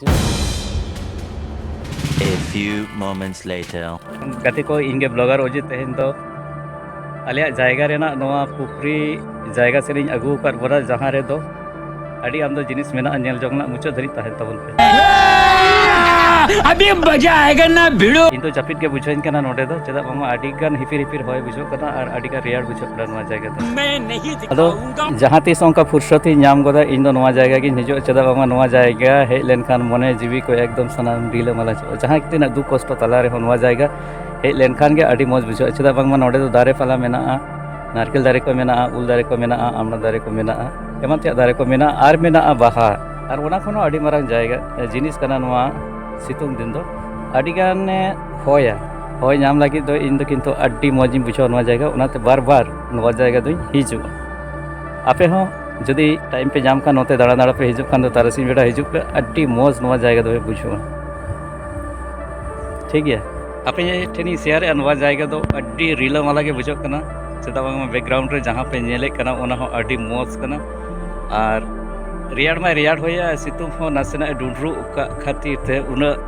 A few moments later. ᱜᱟᱛᱮ ᱠᱚ ᱤᱧ ᱜᱮ ᱵᱞᱚᱜᱟᱨ ᱚᱡᱤᱛ ᱛᱮᱦᱮᱧ ᱫᱚ ᱟᱞᱮᱭᱟᱜ ᱡᱟᱭᱜᱟ ᱨᱮᱱᱟᱜ ᱱᱚᱣᱟ ᱯᱩᱠᱷᱨᱤ ᱡᱟᱭᱜᱟ ᱥᱮᱫ ᱤᱧ ᱟᱹᱜᱩ ᱟᱠᱟᱫ ᱵᱚᱱᱟ ᱡᱟᱦᱟᱸ ᱨᱮᱫᱚ ᱟᱹᱰᱤ ᱟᱢᱫᱟ ᱡᱤᱱᱤᱥ ᱢᱮᱱᱟᱜᱼᱟ ᱧᱮᱞ ᱡᱚᱝ ᱨᱮᱱᱟᱜ ᱢᱩᱪᱟᱹᱫ ᱫᱷᱟᱹᱨᱤᱡ ᱛᱟᱦᱮᱱ ᱛᱟᱵᱚᱱ ᱯᱮ ᱟᱹᱰᱤ ᱢᱚᱡᱟ ᱟᱭᱮᱜᱟ ᱱᱟ ᱵᱷᱤᱲᱳ ᱤᱧ ᱫᱚ ᱡᱟᱹᱯᱤᱫ ᱜᱮ ᱵᱩᱡᱷᱟᱹᱣᱤᱧ ᱠᱟᱱᱟ ᱱᱚᱰᱮ ᱫᱚ ᱪᱮᱫᱟᱜ ᱵᱟᱝᱢᱟ ᱟᱹᱰᱤ ᱜᱟᱱ ᱦᱤᱯᱤᱨ ᱦᱤᱯᱤᱨ ᱦᱚᱭ ᱵᱩᱡᱷᱟᱹᱜ ᱠᱟᱱᱟ ᱟᱨ ᱟᱹᱰᱤ ᱜᱟᱱ ᱨᱮᱭᱟᱲ ᱵᱩᱡᱷᱟᱹᱜ ᱠᱟᱱᱟ ᱱᱚᱣᱟ ᱡᱟᱭᱜᱟ ᱫᱚ ᱟᱫᱚ ᱡᱟᱦᱟᱸ ᱛᱤᱥ ᱚᱱᱠᱟ ᱯᱷᱩᱨᱥᱚᱛ ᱤᱧ ᱧᱟᱢ ᱜᱚᱫᱟ ᱤᱧ ᱫᱚ ᱱᱚᱣᱟ ᱡᱟᱭᱜᱟ ᱜᱤᱧ ᱦᱤᱡᱩᱜᱼᱟ ᱪᱮᱫᱟᱜ ᱵᱟᱝᱢᱟ ᱱᱚᱣᱟ ᱡᱟᱭᱜᱟ ᱦᱮᱡ ᱞᱮᱱᱠᱷᱟᱱ ᱢᱚᱱᱮ ᱡᱤᱣᱤ ᱠᱚ ᱮᱠᱫᱚᱢ ᱥᱟᱱᱟᱢ ᱰᱤᱞᱟᱹ ᱢᱟᱞᱟ ᱪᱟᱵᱟᱜᱼᱟ ᱡᱟᱦᱟᱸ ᱛᱤᱱᱟᱹᱜ ᱫᱩᱠ ᱠᱚᱥᱴᱚ ᱛᱟᱞᱟ ᱨᱮᱦᱚᱸ ᱱᱚᱣᱟ ᱡᱟᱭᱜᱟ ᱦᱮᱡ ᱞᱮᱱᱠᱷᱟᱱ ᱜᱮ ᱟᱹᱰᱤ ᱢᱚᱡᱽ ᱵᱩᱡᱷᱟᱹᱜᱼᱟ ᱪᱮᱫᱟᱜ ᱵᱟᱝᱢᱟ ᱱᱚᱰᱮ ᱫᱚ ᱫᱟᱨᱮ ᱯᱟᱞᱟ ᱢᱮᱱᱟᱜᱼᱟ ᱱᱟᱨᱠᱮᱞ ᱫᱟᱨᱮ ᱠᱚ ᱢᱮᱱᱟᱜᱼᱟ ᱩᱞ ᱫᱟᱨᱮ ᱠᱚ ᱢᱮᱱᱟᱜᱼᱟ ᱟᱢᱲᱟ ᱫᱟᱨᱮ ᱠᱚ ᱢᱮᱱᱟᱜᱼᱟ ᱮᱢᱟᱱ ᱛᱮᱭᱟᱜ ᱫᱟᱨᱮ ᱠᱚ ᱢᱮᱱᱟᱜᱼᱟ ᱟᱨ ᱢᱮᱱᱟᱜᱼᱟ ᱵᱟᱦᱟ ᱟᱨ ᱚᱱᱟ ᱠᱷᱚᱱ ᱦᱚᱸ ᱟᱹᱰᱤ ᱢᱟᱨᱟᱝ ᱡᱟᱭᱜᱟ ᱡᱤᱱᱤᱥ ᱠᱟᱱᱟ ᱱᱚᱣᱟ ᱥᱤᱛᱩᱝ ᱫᱤᱱ ᱫᱚ ᱟᱹᱰᱤ ᱜᱟᱱᱮ ᱦᱚᱭᱟ ᱦᱚᱭ ᱧᱟᱢ ᱞᱟᱹᱜᱤᱫ ᱫᱚ ᱤᱧ ᱫᱚ ᱠᱤᱱᱛᱩ ᱟᱹᱰᱤ ᱢᱚᱡᱽ ᱤᱧ ᱵᱩᱡᱷᱟᱹᱣᱟ ᱱᱚᱣᱟ ᱡᱟᱭᱜᱟ ᱚᱱᱟᱛᱮ ᱵᱟᱨ ᱵᱟᱨ ᱱᱚᱣᱟ ᱡᱟᱭᱜᱟ ᱫᱚᱧ ᱦᱤᱡᱩᱜᱼᱟ ᱟᱯᱮ ᱦᱚᱸ ᱡᱩᱫᱤ ᱴᱟᱭᱤᱢ ᱯᱮ ᱧᱟᱢ ᱠᱷᱟᱱ ᱱᱚᱛᱮ ᱫᱟᱬᱟ ᱫᱟᱬᱟ ᱯᱮ ᱦᱤᱡᱩᱜ ᱠᱷᱟᱱ ᱫᱚ ᱛᱟᱨᱟᱥᱤᱧ ᱵᱮᱲᱟ ᱦᱤᱡᱩᱜ ᱯᱮ ᱟᱹᱰᱤ ᱢᱚᱡᱽ ᱱᱚᱣᱟ ᱡᱟᱭᱜᱟ ᱫᱚᱯᱮ ᱵᱩᱡᱷᱟᱹᱣᱟ ᱴᱷᱤᱠ ᱜᱮᱭᱟ ᱟᱯᱮ ᱴᱷᱮᱱᱤᱧ ᱥᱮᱭᱟᱨᱮᱜᱼᱟ ᱱᱚᱣᱟ ᱡᱟᱭᱜᱟ ᱫᱚ ᱟᱹᱰᱤ ᱨᱤᱞᱟᱹᱢᱟᱞᱟ ᱜᱮ ᱵᱩᱡᱷᱟᱹᱜ ᱠᱟᱱᱟ ᱪᱮᱫᱟᱜ ᱵᱟᱝᱢᱟ ᱵᱮᱠᱜᱨᱟᱣᱩᱱᱰ ᱨᱮ ᱡᱟᱦᱟᱸ ᱯᱮ ᱧᱮᱞᱮᱫ ᱠᱟᱱᱟ ᱚᱱᱟ ᱦᱚᱸ ᱟᱹᱰᱤ ᱢᱚᱡᱽ ᱠᱟᱱᱟ ᱟᱨ ᱨᱮᱭᱟᱲ ᱢᱟᱭ ᱨᱮᱭᱟᱲ ᱦᱚᱭᱟ ᱥᱤᱛᱩᱝ ᱦᱚᱸ ᱱᱟᱥᱮᱱᱟᱜ ᱰᱩᱰᱨᱩᱜ ᱠᱟᱜ ᱠᱷᱟᱹᱛᱤᱨ ᱛᱮ ᱩᱱᱟᱹᱜ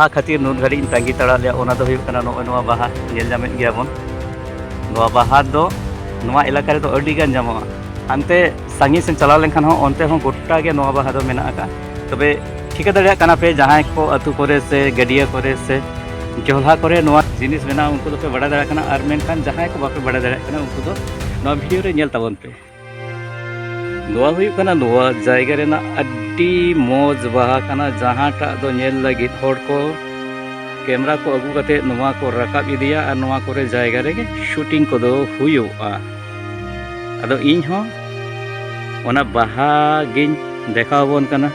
ᱚᱱᱟ ᱠᱷᱟᱹᱛᱤᱨ ᱱᱩᱱ ᱜᱷᱟᱹᱲᱤᱡ ᱤᱧ ᱛᱟᱺᱜᱤ ᱛᱟᱲᱟᱜ ᱞᱮᱭᱟ ᱚᱱᱟ ᱫᱚ ᱦᱩᱭᱩᱜ ᱠᱟᱱᱟ ᱱᱚᱜᱼᱚᱭ ᱱᱚᱣᱟ ᱵᱟᱦᱟ ᱧᱮᱞ ᱧᱟᱢᱮᱫ ᱜᱮᱭᱟ ᱵᱚᱱ ᱱᱚᱣᱟ ᱵᱟᱦᱟ ᱫᱚ ᱱᱚᱣᱟ ᱮᱞᱟᱠᱟ ᱨᱮᱫᱚ ᱟᱹᱰᱤ ᱜᱟᱱ ᱧᱟᱢᱚᱜᱼᱟ ᱦᱟᱱᱛᱮ ᱥᱟᱺᱜᱤᱧ ᱥᱮᱫ ᱪᱟᱞᱟᱣ ᱞᱮᱱᱠᱷᱟᱱ ᱦᱚᱸ ᱚᱱᱛᱮ ᱦᱚᱸ ᱜᱚᱴᱟ ᱜᱮ ᱱᱚᱣᱟ ᱵᱟᱦᱟ ᱫᱚ ᱢᱮᱱᱟᱜ ᱟᱠᱟᱫ ᱛᱚᱵᱮ ᱴᱷᱤᱠᱟᱹ ᱫᱟᱲᱮᱭᱟᱜ ᱠᱟᱱᱟ ᱯᱮ ᱡᱟᱦᱟᱸᱭ ᱠᱚ ᱟᱹᱛᱩ ᱠᱚᱨᱮ ᱥᱮ ᱜᱟᱹᱰᱭᱟᱹ ᱠᱚᱨᱮ ᱥᱮ ᱡᱚᱞᱦᱟ ᱠᱚᱨᱮ ᱱᱚᱣᱟ ᱡᱤᱱᱤᱥ ᱢᱮᱱᱟᱜᱼᱟ ᱩᱱᱠᱩ ᱫᱚᱯᱮ ᱵᱟᱲᱟᱭ ᱫᱟᱲᱮᱭᱟᱜ ᱠᱟᱱᱟ ᱟᱨ ᱢᱮᱱᱠᱷᱟᱱ ᱡᱟᱦᱟᱸᱭ ᱠᱚ ᱵᱟᱯᱮ ᱵᱟᱲᱟᱭ ᱫᱟᱲᱮᱭᱟᱜ ᱠᱟᱱᱟ ᱩᱱᱠᱩ ᱫᱚ ᱱᱚᱣᱟ ᱵᱷᱤᱰᱤᱭᱳ ᱨᱮ ᱧᱮᱞ ᱛᱟᱵᱚᱱ ᱯᱮ ᱱᱚᱣᱟ ᱦᱩᱭᱩᱜ ᱠᱟᱱᱟ ᱱᱚᱣᱟ ᱡᱟᱭᱜᱟ ᱨᱮᱱᱟᱜ ᱟᱹᱰᱤ ᱢᱚᱡᱽ ᱵᱟᱦᱟ ᱠᱟᱱᱟ ᱡᱟᱦᱟᱸᱴᱟᱜ ᱫᱚ ᱧᱮᱞ ᱞᱟᱹᱜᱤᱫ ᱦᱚᱲ ᱠᱚ ᱠᱮᱢᱨᱟ ᱠᱚ ᱟᱹᱜᱩ ᱠᱟᱛᱮ ᱱᱚᱣᱟ ᱠᱚ ᱨᱟᱠᱟᱵ ᱤᱫᱤᱭᱟ ᱟᱨ ᱱᱚᱣᱟ ᱠᱚᱨᱮ ᱡᱟᱭᱜᱟ ᱨᱮᱜᱮ ᱥᱩᱴᱤᱝ ᱠᱚᱫᱚ ᱦᱩᱭᱩᱜᱼᱟ ᱟᱫᱚ ᱤᱧ ᱦᱚᱸ ᱚᱱᱟ ᱵᱟᱦᱟ ᱜᱤᱧ ᱫᱮᱠᱷᱟᱣ ᱟᱵᱚᱱ ᱠᱟᱱᱟ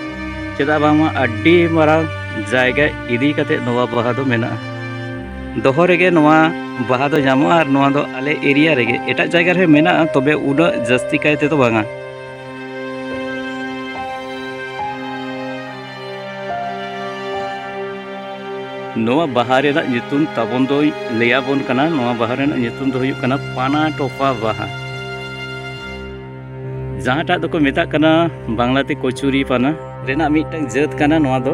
ᱪᱮᱫᱟᱜ ᱵᱟᱝᱢᱟ ᱟᱹᱰᱤ ᱢᱟᱨᱟᱝ ᱡᱟᱭᱜᱟ ᱤᱫᱤ ᱠᱟᱛᱮ ᱱᱚᱣᱟ ᱵᱟᱦᱟ ᱫᱚ ᱢᱮᱱᱟᱜᱼᱟ ᱫᱚᱦᱚ ᱨᱮᱜᱮ ᱱᱚᱣᱟ ᱵᱟᱦᱟ ᱫᱚ ᱧᱟᱢᱚᱜᱼᱟ ᱟᱨ ᱱᱚᱣᱟ ᱫᱚ ᱟᱞᱮ ᱮᱨᱤᱭᱟ ᱨᱮᱜᱮ ᱮᱴᱟᱜ ᱡᱟᱭᱜᱟ ᱨᱮ ᱢᱮᱱᱟᱜᱼᱟ ᱛᱚᱵᱮ ᱩᱱᱟᱹᱜ ᱡᱟᱹᱥᱛᱤ ᱠᱟᱭ ᱛᱮᱫᱚ ᱵᱟᱝᱟ ᱱᱚᱣᱟ ᱵᱟᱦᱟ ᱨᱮᱱᱟᱜ ᱧᱩᱛᱩᱢ ᱛᱟᱵᱚᱱ ᱫᱚᱭ ᱞᱟᱹᱭᱟᱵᱚᱱ ᱠᱟᱱᱟ ᱱᱚᱣᱟ ᱵᱟᱦᱟ ᱨᱮᱱᱟᱜ ᱧᱩᱛᱩᱢ ᱫᱚ ᱦᱩᱭᱩᱜ ᱠᱟᱱᱟ ᱯᱟᱱᱟ ᱴᱚᱯᱟ ᱵᱟᱦᱟ ᱡᱟᱦᱟᱸᱴᱟᱜ ᱫᱚᱠᱚ ᱢᱮᱛᱟᱜ ᱠᱟᱱᱟ ᱵᱟᱝᱞᱟᱛᱮ ᱠᱚᱪᱩᱨᱤ ᱯᱟᱱᱟ ᱨᱮᱱᱟᱜ ᱢᱤᱫᱴᱟᱝ ᱡᱟᱹᱛ ᱠᱟᱱᱟ ᱱᱚᱣᱟ ᱫᱚ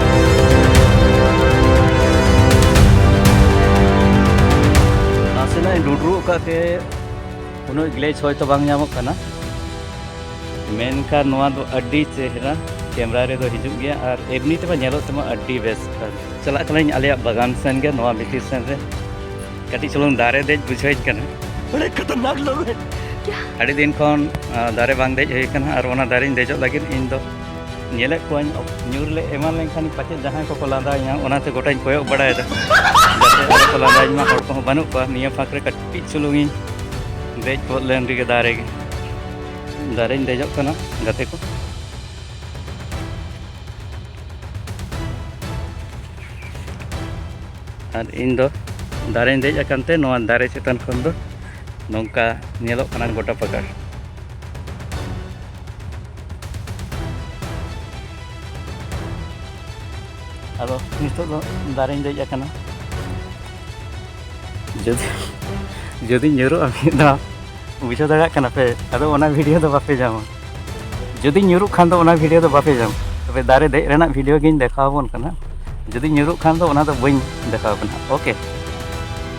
ᱱᱟᱥᱮᱱᱟᱜ ᱤᱧ ᱰᱩᱰᱨᱩᱜ ᱟᱠᱟᱫ ᱛᱮ ᱩᱱᱟᱹᱜ ᱜᱞᱮᱡᱽ ᱦᱚᱭᱛᱚ ᱵᱟᱝ ᱧᱟᱢᱚᱜ ᱠᱟᱱᱟ ᱢᱮᱱᱠᱷᱟᱱ ᱱᱚᱣᱟ ᱫᱚ ᱟᱹᱰᱤ ᱪᱮᱦᱨᱟ ᱠᱮᱢᱨᱟ ᱨᱮᱫᱚ ᱦᱤᱡᱩᱜ ᱜᱮᱭᱟ ᱟᱨ ᱮᱢᱱᱤ ᱛᱮᱢᱟ ᱧᱮᱞᱚᱜ ᱛᱮᱢᱟ ᱟᱹᱰᱤ ᱵᱮᱥ ᱪᱟᱞᱟᱜ ᱠᱟᱹᱱᱟᱹᱧ ᱟᱞᱮᱭᱟᱜ ᱵᱟᱜᱟᱱ ᱥᱮᱱ ᱜᱮ ᱱᱚᱣᱟ ᱵᱷᱤᱛᱤᱨ ᱥᱮᱱ ᱨᱮ ᱠᱟᱹᱴᱤᱡ ᱪᱩᱞᱩᱝ ᱫᱟᱨᱮ ᱫᱮᱡ ᱵᱩᱡᱷᱟᱹᱣᱤᱧ ᱠᱟᱱᱟ ᱵᱚᱲᱮ ᱠᱷᱟᱛᱟᱨᱱᱟᱠ ᱞᱚᱜ ᱟᱹᱰᱤ ᱫᱤᱱ ᱠᱷᱚᱱ ᱫᱟᱨᱮ ᱵᱟᱝ ᱫᱮᱡ ᱦᱩᱭ ᱠᱟᱱᱟ ᱟᱨ ᱚᱱᱟ ᱫᱟᱨᱮᱧ ᱫᱮᱡᱚᱜ ᱞᱟᱹᱜᱤᱫ ᱤᱧ ᱫᱚ ᱧᱮᱞᱮᱫ ᱠᱚᱣᱟᱧ ᱧᱩᱨ ᱞᱮ ᱮᱢᱟᱱ ᱞᱮᱱᱠᱷᱟᱱ ᱯᱟᱪᱮᱫ ᱡᱟᱦᱟᱸᱭ ᱠᱚᱠᱚ ᱞᱟᱸᱫᱟᱭᱟ ᱚᱱᱟᱛᱮ ᱜᱚᱴᱟᱧ ᱠᱚᱭᱚᱜ ᱵᱟᱲᱟᱭᱮᱫᱟ ᱡᱟᱛᱮ ᱟᱞᱚ ᱠᱚ ᱞᱟᱸᱫᱟᱭᱤᱧ ᱢᱟ ᱦᱚᱲ ᱠᱚᱦᱚᱸ ᱵᱟᱹᱱᱩᱜ ᱠᱚᱣᱟ ᱱᱤᱭᱟᱹ ᱯᱷᱟᱸᱠ ᱨᱮ ᱠᱟᱹᱴᱤᱡ ᱪᱩᱞᱩᱝ ᱤᱧ ᱫᱮᱡ ᱜᱚᱫ ᱞᱮᱱ ᱨᱮᱜᱮ ᱫᱟᱨᱮ ᱜᱮ ᱫᱟᱨᱮᱧ ᱫᱮᱡᱚᱜ ᱠᱟᱱᱟ ᱜᱟᱛᱮ ᱠᱚ ᱟᱨ ᱤᱧ ᱫᱚ ᱫᱟᱨᱮᱧ ᱫᱮᱡ ᱟᱠᱟᱱ ᱛᱮ ᱱᱚᱣᱟ ᱫᱟᱨᱮ ᱪᱮᱛᱟᱱ ᱠᱷᱚᱱ ᱫᱚ ᱱᱚᱝᱠᱟ ᱧᱮᱞᱚᱜ ᱠᱟᱱᱟ ᱜᱚᱴᱟ ᱯᱟᱠᱟᱲ ᱟᱫᱚ ᱱᱤᱛᱚᱜ ᱫᱚ ᱫᱟᱨᱮᱧ ᱫᱮᱡ ᱟᱠᱟᱱᱟ ᱡᱩᱫᱤ ᱡᱩᱫᱤ ᱧᱩᱨᱩᱜᱼᱟ ᱢᱤᱫ ᱫᱷᱟᱣ ᱵᱩᱡᱷᱟᱹᱣ ᱫᱟᱲᱮᱭᱟᱜ ᱠᱟᱱᱟ ᱯᱮ ᱟᱫᱚ ᱚᱱᱟ ᱵᱷᱤᱰᱤᱭᱳ ᱫᱚ ᱵᱟᱯᱮ ᱧᱟᱢᱟ ᱡᱩᱫᱤ ᱧᱩᱨᱩᱜ ᱠᱷᱟᱱ ᱫᱚ ᱚᱱᱟ ᱵᱷᱤᱰᱤᱭᱳ ᱫᱚ ᱵᱟᱯᱮ ᱧᱟᱢᱟ ᱛᱚᱵᱮ ᱫᱟᱨᱮ ᱫᱮᱡ ᱨᱮᱱᱟᱜ ᱵᱷᱤᱰᱤᱭᱳ ᱜᱤᱧ ᱫᱮᱠᱷᱟᱣ ᱟᱵᱚᱱ ᱠᱟᱱᱟ ᱡᱩᱫᱤ ᱧᱩᱨᱩᱜ ᱠᱷᱟᱱ ᱫᱚ ᱚᱱᱟ ᱫᱚ ᱵᱟᱹᱧ ᱫᱮᱠᱷᱟᱣ ᱠᱟᱱᱟ ᱳᱠᱮ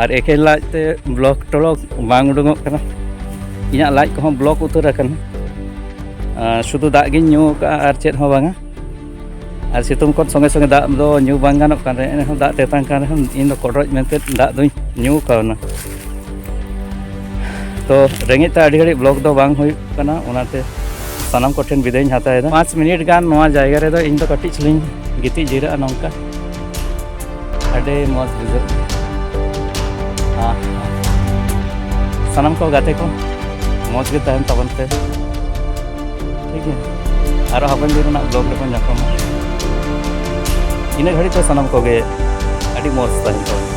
ᱟᱨ ᱮᱠᱮᱱ ᱞᱟᱡ ᱛᱮ ᱵᱞᱚᱠ ᱴᱚᱞᱚᱠ ᱵᱟᱝ ᱩᱰᱩᱠᱚᱜ ᱠᱟᱱᱟ ᱤᱧᱟᱹᱜ ᱞᱟᱡ ᱠᱚᱦᱚᱸ ᱵᱞᱚᱠ ᱩᱛᱟᱹᱨ ᱟᱠᱟᱱᱟ ᱥᱩᱫᱷᱩ ᱫᱟᱜ ᱜᱤᱧ ᱧᱩ ᱟᱠᱟᱫᱼᱟ ᱟᱨ ᱪᱮᱫ ᱦᱚᱸ ᱵᱟᱝᱟ ᱟᱨ ᱥᱤᱛᱩᱝ ᱠᱷᱚᱱ ᱥᱚᱸᱜᱮ ᱥᱚᱸᱜᱮ ᱫᱟᱜ ᱫᱚ ᱧᱩ ᱵᱟᱝ ᱜᱟᱱᱚᱜ ᱠᱟᱱ ᱨᱮᱦᱚᱸ ᱮᱱᱨᱮᱦᱚᱸ ᱫᱟᱜ ᱛᱮᱛᱟᱝ ᱠᱟᱱ ᱨᱮᱦᱚᱸ ᱤᱧ ᱫᱚ ᱠᱚᱰᱨᱚᱡ ᱢᱮᱱᱛᱮ ᱫᱟᱜ ᱫᱚᱧ ᱧᱩ ᱠᱟᱣᱱᱟ ᱛᱚ ᱨᱮᱸᱜᱮᱡ ᱛᱮ ᱟᱹᱰᱤ ᱜᱷᱟᱹᱲᱤᱡ ᱵᱞᱚᱠ ᱫᱚ ᱵᱟᱝ ᱦᱩᱭᱩᱜ ᱠᱟᱱᱟ ᱚᱱᱟᱛᱮ ᱥᱟᱱᱟᱢ ᱠᱚᱴᱷᱮᱱ ᱵᱤᱫᱟᱹᱭᱤᱧ ᱦᱟᱛᱟᱣᱮᱫᱟ ᱯᱟᱸᱪ ᱢᱤᱱᱤᱴ ᱜᱟᱱ ᱱᱚᱣᱟ ᱡᱟᱭᱜᱟ ᱨᱮᱫᱚ ᱤᱧ ᱫᱚ ᱠᱟᱹᱴᱤᱡ ᱪᱩᱞᱤᱧ ᱜᱤᱛᱤᱡ ᱡᱤᱨᱟᱹᱜᱼᱟ ᱱᱚᱝᱠᱟ ᱟᱹᱰᱤ ᱢᱚᱡᱽ ᱵᱩᱡᱷᱟᱹᱜ ᱥᱟᱱᱟᱢ ᱠᱚ ᱜᱟᱛᱮ ᱠᱚ ᱢᱚᱡᱽ ᱜᱮ ᱛᱟᱦᱮᱱ ᱛᱟᱵᱚᱱ ᱯᱮ ᱴᱷᱤᱠ ᱜᱮᱭᱟ ᱟᱨᱚ ᱦᱟᱯᱮᱱ ᱫᱤᱱ ᱨᱮᱱᱟᱜ ᱵᱞᱚᱜ ᱨᱮᱵᱚᱱ ᱧᱟᱯᱟᱢᱟ ᱤᱱᱟᱹ ᱜᱷᱟᱹᱲᱤᱡ ᱫᱚ ᱥᱟᱱᱟᱢ ᱠᱚᱜᱮ ᱟᱹᱰᱤ ᱢᱚᱡᱽ ᱛᱟᱦᱮᱱ ᱛᱟᱵᱚᱱ